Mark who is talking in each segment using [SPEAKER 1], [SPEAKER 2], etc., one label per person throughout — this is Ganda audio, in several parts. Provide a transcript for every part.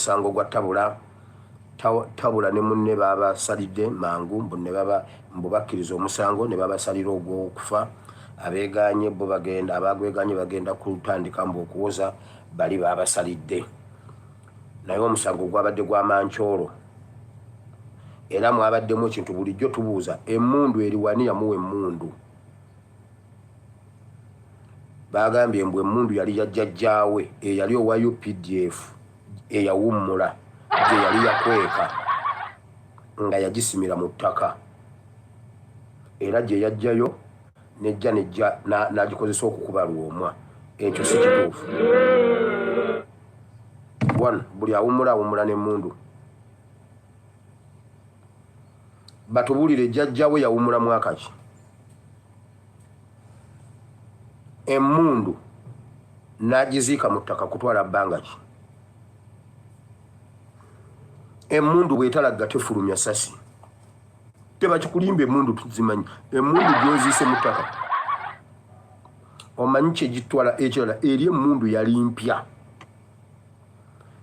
[SPEAKER 1] musango gwa tabula tabula ne munne babasalidde mangu mbu ne baba mbu bakkiriza omusango ne babasalira ogw'okufa abeegaanye bo bagenda abagwegaanye bagenda kutandika mbu okuwoza bali babasalidde naye omusango gwabadde gwa mankyolo era mwabaddemu ekintu bulijjo tubuuza emundu eriwani yamuwa emundu baagambye mbu emmundu yali ya jjajjaawe eyali owa updf eyawummula gye yali yakweka nga yagisimira mu ttaka era gye yajjayo nejja nejja n'agikozesa okukuba lwomwa ekyo si kituufu one buli awummula awummula n'emmundu batubulire jjajjawe yawumula mwaka ki emundu nagiziika mu ttaka kutwala bbanga ki emundu bwetalagga tefulumya sasi tebakikulimba emundu tuzimanyi emundu gyoziise mu ttaka omanyi kyegitwala ekirala eri emundu yali mpya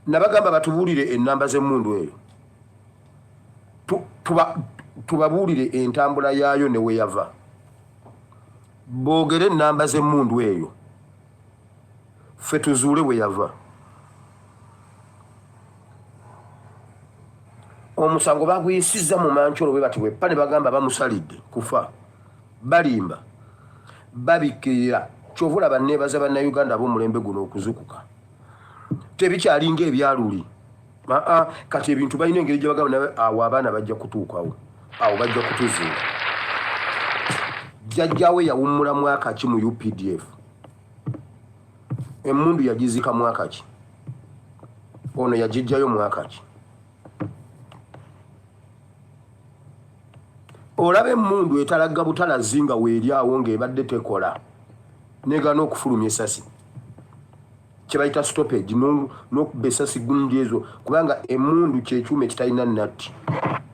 [SPEAKER 1] nabagamba batubuulire enamba z'emmundu eyo tubabuulire entambula yaayo ne weyava boogere enamba z'emmundu eyo ffe tuzuule weyava omusango baguyisizza mu mankyolo bwe bati bweppa ne bagamba bamusalidde kufa Balimba. Babikirira. Kyova olaba nebaza bannayuganda ab'omulembe guno okuzukuka. Tebikyali nga ebyaluli. Aa kati ebintu balina engeri gye bagamba nawe awo abaana bajja kutuukawo. Awo bajja kutuzuula. Jjajjaawe yawummula mwaka ki mu UPDF? Emmundu yagizika mwaka ki? Ono yagijjayo mwaka ki? olaba emundu etalagga butalazi nga weeryawo ng'ebadde tekola negana okufulumya esasi kyebayita stoppage nokuba esasi gundi ezo kubanga emundu kyekyuma ekitalina natti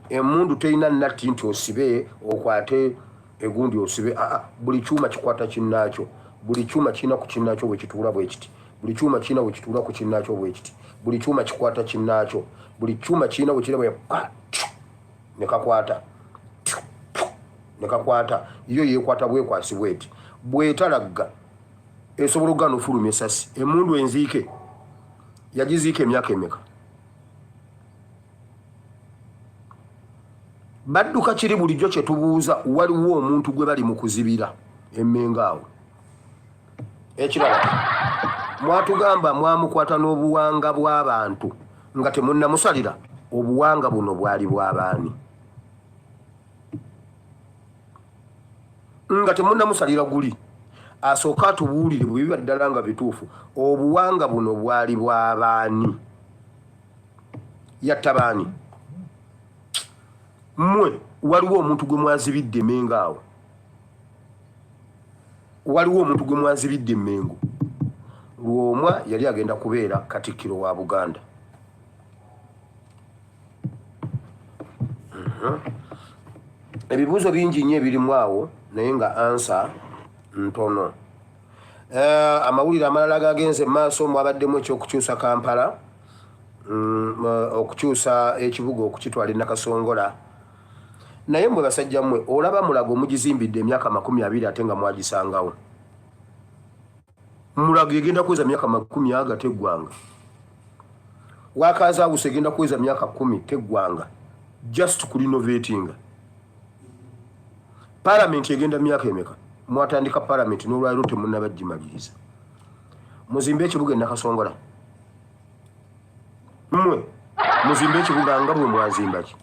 [SPEAKER 1] emundu terina natti nti osibe okwate egundi osibe aa buli kyuma kikwata kinaakyo buli kyuma kirina ku kinaakyo bwekituula bwekiti Buli kyuma kirina bwe kituula ku kinnaakyo bwe kiti. Buli kyuma kikwata kinnaakyo. Buli kyuma kirina bwe kirina bwe ne kakwata ne kakwata yo yeekwata bwekwasi bweti bwetalagga esobola okugana ofuluma esasi emundu enziike yagiziika emyaka emeka badduka kiri bulijjo kye tubuuza waliwo omuntu gwe bali mu kuzibira emmenga awo ekirala mwatugamba mwamukwata n'obuwanga bw'abantu nga temunnamusalira obuwanga buno bwali bw'abaani nga temunnamusalira guli asooke atubuulire bwe biba ddala nga bituufu obuwanga buno bwali bw'abaani yatta baani mmwe waliwo omuntu gwe mwazibidde mengaawo waliwo omuntu gwe mwanzibidde emmengo lwomwa yali agenda kubeera katikkiro wa buganda mhm. ebibuuzo bingi nnyo ebirimu awo naye nga ansa ntono eh, amawulire amalala gagenze mumaaso mwabaddemu ekyokukyusa kampala mm, eh, okukyusa ekibuga okukitwala enakasongola naye mwe basajja mwe olaba mulago mugizimbidde emyaka makumi abiri ate nga mwagisangawo mulago egenda kuweza myaka makumi aga teggwanga wakazaawusa egenda kuweza myaka kumi teggwanga just ku renovatinga palamenti egenda myaka emeka mwatandika palamenti n'olwaliro temunabagimaliriza muzimbe ekibuga enakasongola mwe muzimbe ekibuga nga mwe mwazimbaki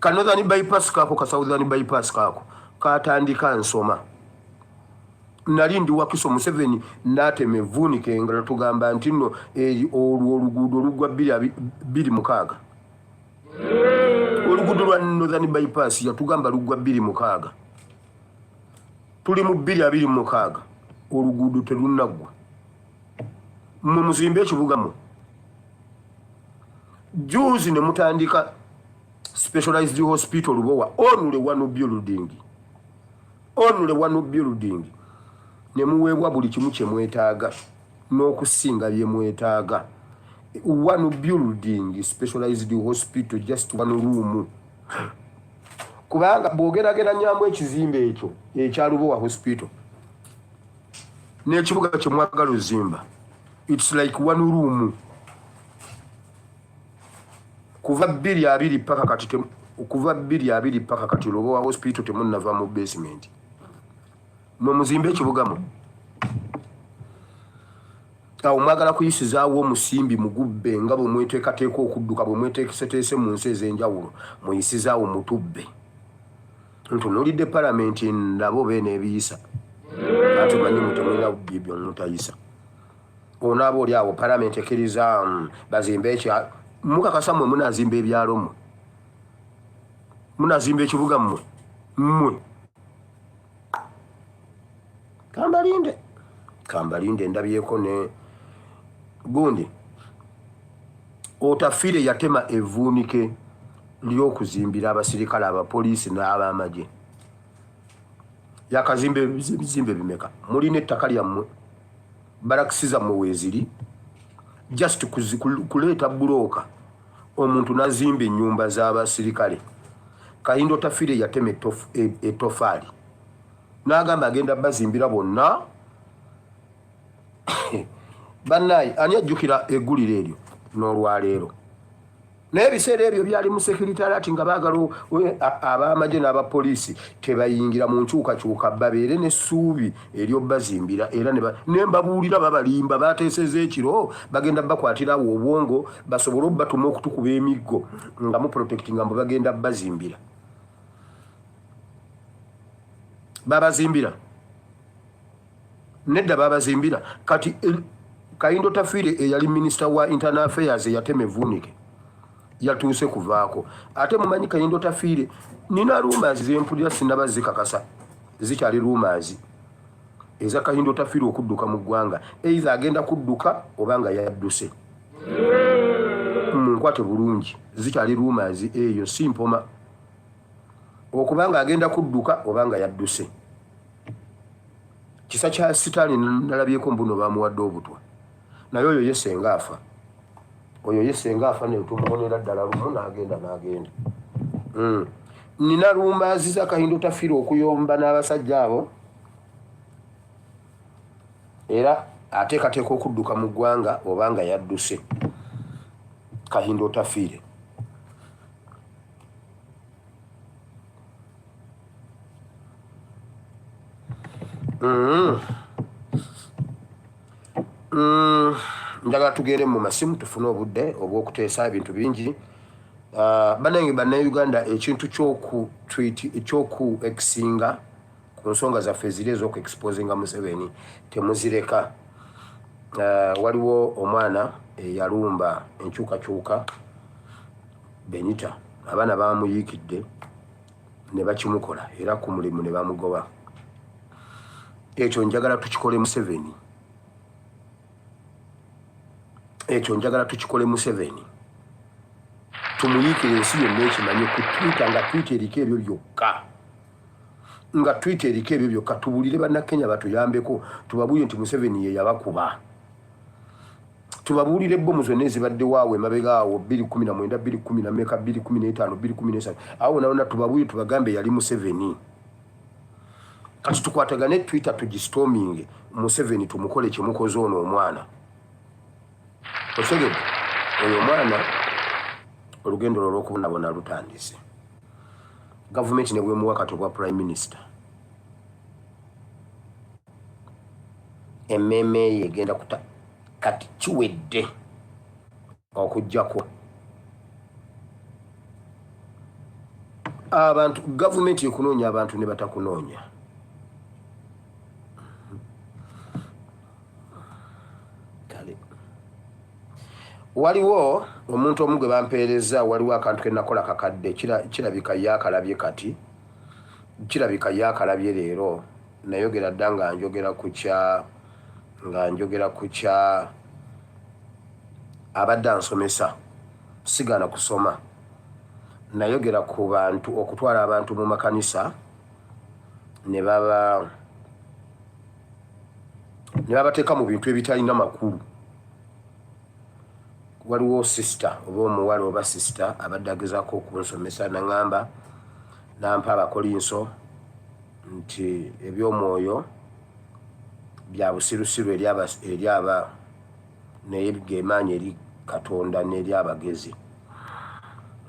[SPEAKER 1] ka northern bypass kaako ka southern bypass kaako katandika nsoma nali ndi wakiso museveni natema evuunika engala tugamba nti no eh, olwo oluguudo olugwa biri mukaaga oluguudo lwa northern bypass yatugamba lugwa biri mukaaga tuli mu biri abiri mukaaga oluguudo telunaggwa mwe muzimbe ekibuga mu juzi ne mutandika specialized hospital lubowa onule wanu building onule wanu building ne muweebwa buli kimu kye mwetaaga n'okusinga bye mwetaaga one building specialized hospital just one room kubanga bwogerageranyaamu ekizimbe ekyo ekyalubowa hospital n'ekibuga kye mwagala ozimba its like one room kuva bbiri abiri paka kati kuva bbiri abiri paka kati lobo wa hospital temunnava mu basement mwe muzimbe ekibugamu awo mwagala kuyisizaawo omusimbi mugubbe nga bwe mweteekateeka okudduka bwe mweteekeseteese mu nsi ez'enjawulo muyisizaawo mutubbe ntunulidde palamenti nabo beena ebiyisa ati manyi mutemulina bubbi byomutayisa onaaba oli awo palamenti ekkiriza mm, bazimba ekya mukakasa mwe munazimba ebyalo mwe munazimba ekibuga mwe mwe kambalinde kambalinde ndabyeko ne gundi otafire yatema evuunike ly'okuzimbira abasirikale abapoliisi n'abamagye yakazimba ebizimbe bimeka mulina ettaka lyammwe barakisi zammwe weeziri just kuleeta bulooka omuntu nazimba ennyumba z'abasirikale kayindo tafire yatema etofaali e, n'agamba agenda bazimbira bonna bannaayi ani ajjukira eggulire eryo n'olwaleero naye ebiseera ebyo byali mu sekiritariati nga baagala ab'amagye n'abapoliisi tebayingira mu nkyukakyuka babeere n'essuubi eryobbazimbira era ne mbabuulira babalimba bateeseza ekiro bagenda bakwatirawo obwongo basobole obubatuma okutukuba emiggo nga mu protect nga mbu bagenda bazimbira babazimbira nedda babazimbira kati eh, kayindo tafiire eyali eh, minisita wa internal affairs eyatema evuunike yatuuse kuvaako ate mumanyi kayindo tafiire nina rumazi zempulira sinaba zikakasa zikyali rumazi eza kayindo tafiire okudduka mu ggwanga eitha agenda kudduka oba nga yadduse munkwate bulungi zikyali rumazi eyo si mpoma okuba nga agenda kudduka oba nga yadduse kisa kya sitaani nalabyeko mbuno bamuwadde obutwa naye oyo ye senga afa oyo ye senga afa netumumonera ddala lumu nagenda nagenda hmm. nina lumbaaziza kahinda otafira okuyomba n'abasajja abo era ateekateeka okudduka mu ggwanga oba nga yadduse kahinda otafiire Mm. Mm. njagala tugende mu masimu tufune obudde obw'okuteesa ebintu bingi ah, banange bannauganda ekintu kyoku ekisinga ku nsonga zaffe eziri ez'okuexposinga museveni temuzireka ah, waliwo omwana eyalumba enkyukakyuka benita abaana bamuyiikidde ne bakimukola era ku mulimu ne bamugoba ekyo njagala tukikole museveni ekyo njagala tukikole museveni tumuyiikire ensi yonna ekimanye ku twita nga twita eriko ebyo byokka nga twita eriko ebyo byokka tubulire bannakenya batuyambeko tubabuye nti museveni ye yabakuba tubabuulire bbomu zonna ezibaddewo awo emabega awo bbiri kumi na mwenda bbiri kumi na meka bbiri kumi n'etaano bbiri kumi n'esatu awo wonawona tubabuulire tubagambe yali museveni kati tukwatagane twitter tugisitominge museveni tumukole kyemukoze ono omwana osegede oyo omwana olugendo lwo lwokubonabona lutandise gavumenti nebwemuwa kati obwa prime minister emmeeme ye egenda kuta kati kiwedde okujjako abantu gavumenti ekunoonya abantu ne batakunoonya waliwo omuntu omu gwe bampeereza waliwo akantu ke nakola kakadde kirabika yakalabye kati kirabika yakalabye leero nayogera dda nga njogera ku kya nga njogera ku kya abadde ansomesa sigaana kusoma nayogera ku bantu okutwala abantu mu makanisa ne baba ne babateeka mu bintu ebitalina makulu waliwo sisita oba omuwala oba sisita abadde agezaako okunsomesa naŋamba nampa abakolinso nti eby'omwoyo bya busirusiru eri aba naye gemaanyi eri katonda n'eri abagezi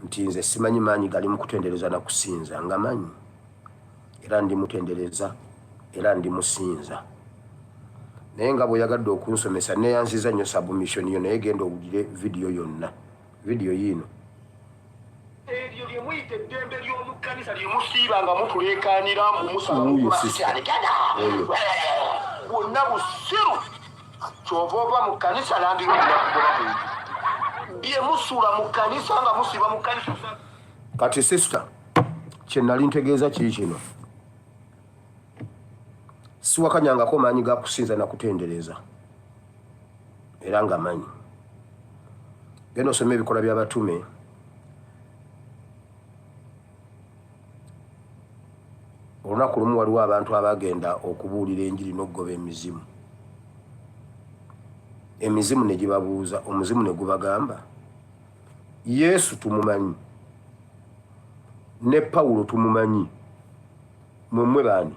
[SPEAKER 1] nti nze simanyi maanyi gali mu kutendereza na kusinza nga manyi era ndi mutendereza era ndi musinza naye nga bweyagadde okunsomesa neyanziza nyo submission yo naye genda owulire vidiyo yonna Video yiino. Ebyo bye muyita eddembe ly'omu kkanisa lye musiiba nga mutuleekaanira mbu musabaasikyani gada bwonna busiru kyova ova mu kkanisa nandiroakugoba bye musuula mu kkanisa nga musiiba mu kkanisa kati sisita kye nali ntegeeza kii kino siwakanyangako maanyi ga kusinza na kutendereza era nga manyi genda osoma ebikola by'abatume olunaku lumu waliwo abantu abagenda okubuulira enjiri n'okugoba emizimu emizimu ne gibabuuza omuzimu ne gubagamba yesu tumumanyi ne pawulo tumumanyi Mumwe bani?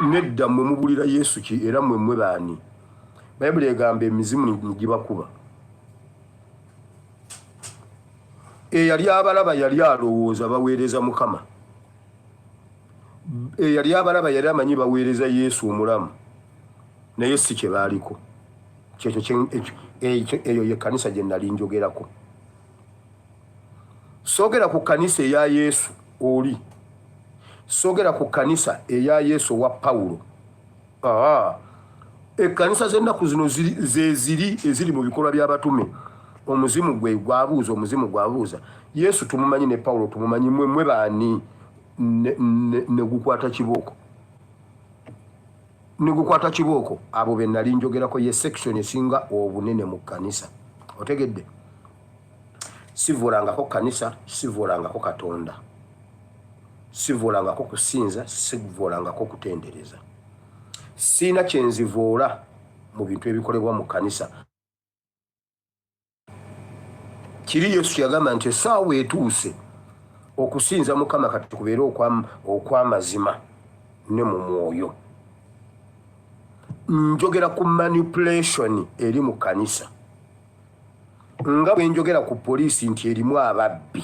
[SPEAKER 1] Nedda mwe mubulira Yesu ki era mwe mwe bani? Bayibuli egamba emizimu nigibakuba. Eyali abalaba yali alowooza baweereza Mukama. Eyali abalaba yali amanyi baweereza Yesu omulamu naye si kye baaliko. Kyekyo eyo ye kanisa gye nali njogerako. sogera ku kanisa eya yesu oli sogera ku kanisa eya yesu owa pawulo ekanisa zennaku zino zeziri eziri mu bikolwa byabatume omuzimu gwe gwabuuza omuzimu gwabuuza yesu tumumanyi ne pawulo tumumanyi mwe mwe baani negukwata kibooko negukwata kibooko abo benali njogerako ye section esinga obunene mu kanisa otegedde sivuulangako kkanisa sivuulangako katonda sivuulangako kusinza sivuulangako kutendereza siina kyenzivuula mu bintu ebikolebwa mu kkanisa kiri yesu yagamba nti esaawa etuuse okusinza mukama kati kubeere okwamazima ne mu mwoyo njogera ku manipulation eri mu kkanisa nga bwe njogera ku poliisi nti erimu ababbi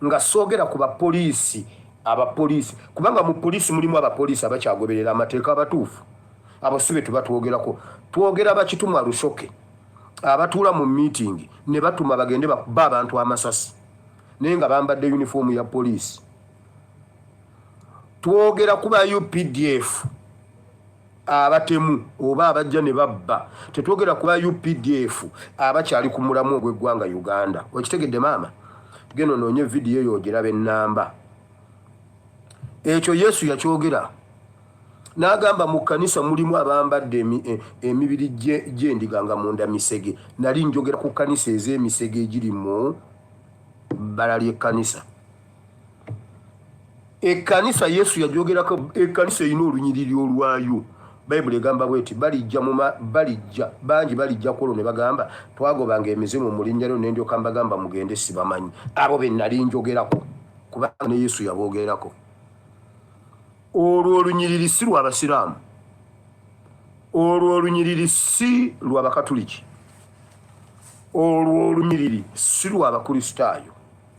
[SPEAKER 1] nga soogera ku bapoliisi abapoliisi kubanga mu poliisi mulimu abapoliisi abakyagoberera amateeka abatuufu abo si be tuba twogerako twogera bakitumwa lusoke abatuula mu miitingi ne batuma bagende bakuba abantu amasasi naye nga bambadde yunifoomu ya poliisi twogera ku ba updf abatemu oba abajja ne babba tetwogera kuba updf abakyali ku mulamu ogw'eggwanga uganda okitegedde maama geno noonye vidiyo eyo ogiraba ennamba ekyo yesu yakyogera n'agamba mu kkanisa mulimu abambadde e, emibiri gyendiga nga munda misege nali njogera ku kkanisa ez'emisege egiri mu bbala ly'ekkanisa ekkanisa yesu yagyogerako ekkanisa erina olunyiriri olwayo bayibuli egamba bwe nti balijja muma balijja bangi balijja ku olwo ne bagamba twagobanga emizimu mu linnya lyo nendyoka mbagamba mugende sibamanyi abo be nali njogerako kubanga ne yesu yaboogerako olwo olunyiriri si lwa basiraamu olwo olunyiriri si lwa bakatuliki olwo olunyiriri si lwa bakristaayo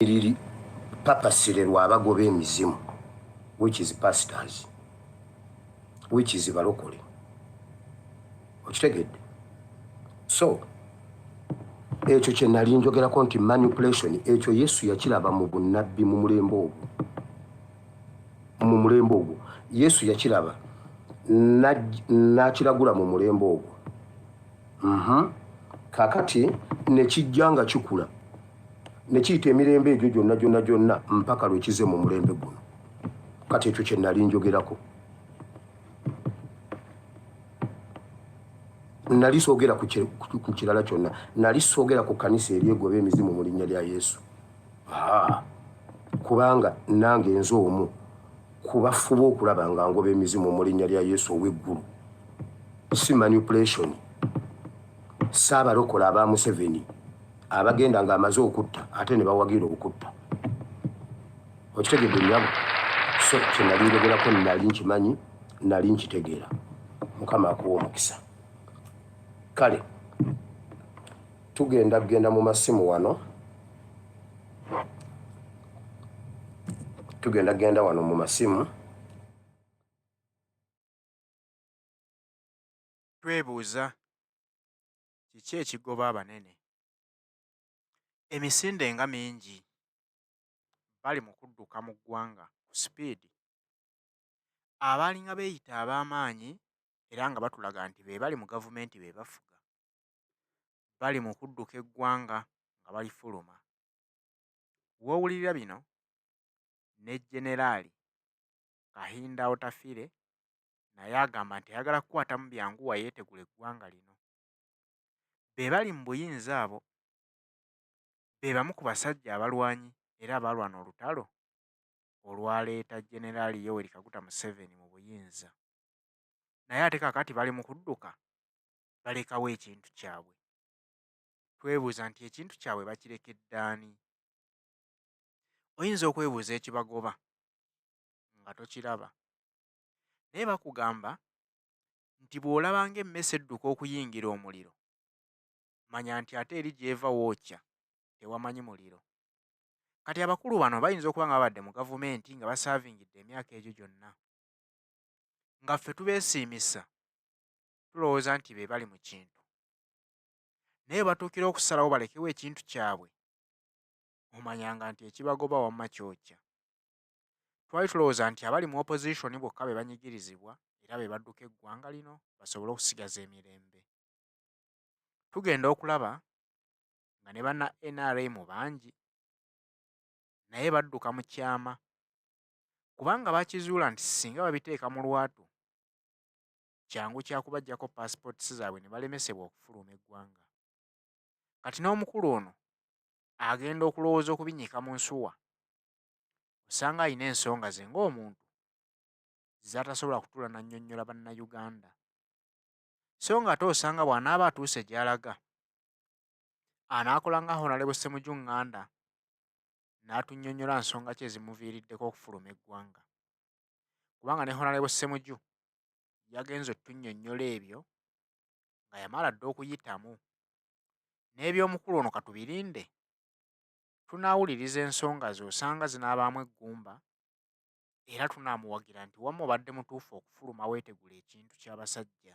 [SPEAKER 1] liri papasire lwa bagoba emizimu which is pastors which is balokole okitegedde so ekyo kye nali njogerako nti manipulation ekyo yesu yakiraba mu bunnabbi mu mulembe ogwo mu mulembe ogwo yesu yakiraba n'akiragula mu mulembe ogwo mhm. kakati nekijja nga kikula ne kiyita emirembe egyo gyonna gyonna gyonna mpaka lwe kize mu mulembe guno kati ekyo kye nali njogerako nali soogera ku kirala kyonna nali soogera ku kanisa eryegoba emizimu mu linnya lya yesu kubanga nange nze omu kubafuba okulaba nga ngoba emizimu mu linnya lya yesu ow'eggulu si manipulationi Ssaabalokole aba Museveni abagenda ng'amaze okutta ate ne bawagira okutta. Okitegedde nnyabo? So kye nali njogerako nali nkimanyi, nali nkitegeera. Mukama akuwa omukisa. Kale tugenda kugenda mu masimu wano. Tugenda kugenda wano mu masimu.
[SPEAKER 2] Twebuuza, Kiki ekigoba abanene? Emisinde nga mingi bali mu kudduka mu ggwanga ku sipiidi. Abaalinga beeyita ab'amaanyi era nga batulaga nti be bali mu gavumenti be bafuga, bali mu kudduka eggwanga nga balifuluma. W'owulirira bino, ne Jeneraali Kahinda Otafire naye agamba nti ayagala kukwatamu byangu wayeetegula eggwanga lino be bali mu buyinza abo be bamu ku basajja abalwanyi era abaalwana olutalo olwaleeta generaali yoweri kaguta museveni mu buyinza naye ate kakati bali mu kudduka balekawo ekintu kyabwe twebuuza nti ekintu kyabwe bakirekeddaani oyinza okwebuuza ekibagoba nga tokiraba naye bakugamba nti bw'olaba ng'emmese edduka okuyingira omuliro manya nti ate eri gy'eva wookya tewamanyi muliro kati abakulu bano bayinza okuba nga babadde mu gavumenti nga basaavingidde emyaka egyo gyonna nga ffe tubeesiimisa tulowooza nti be bali mu kintu naye batuukira okusalawo balekewo ekintu kyabwe omanyanga nti ekibagoba wamma kyokya Twali tulowooza nti abali mu opozisoni bokka be banyigirizibwa era be badduka eggwanga lino basobole okusigaza emirembe. Tugenda okulaba nga ne banna nrm bangi naye badduka mu kyama kubanga bakizuula nti singa babiteeka mu lwatu kyangu kyakubajjako paasipooti zaabwe ne balemesebwa okufuluma eggwanga. Kati n'omukulu ono agenda okulowooza okubinyika mu nsuwa osanga alina ensonga ze ng'omuntu z'atasobola kutuula n'annyonnyola bannayuganda so ng'ate osanga bw'anaaba atuuse gy'alaga anaakola nga honalebo ssemuju ŋŋanda n'atunnyonnyola nsonga ki ezimuviiriddeko okufuluma eggwanga kubanga ne honalebo ssemuju yagenze otunnyonnyola ebyo nga yamala dda okuyitamu n'eby'omukulu ono katubirinde tunaawuliriza ensonga ze osanga zinaabaamu eggumba era tunaamuwagira nti wamma obadde mutuufu okufuluma weetegule ekintu ky'abasajja.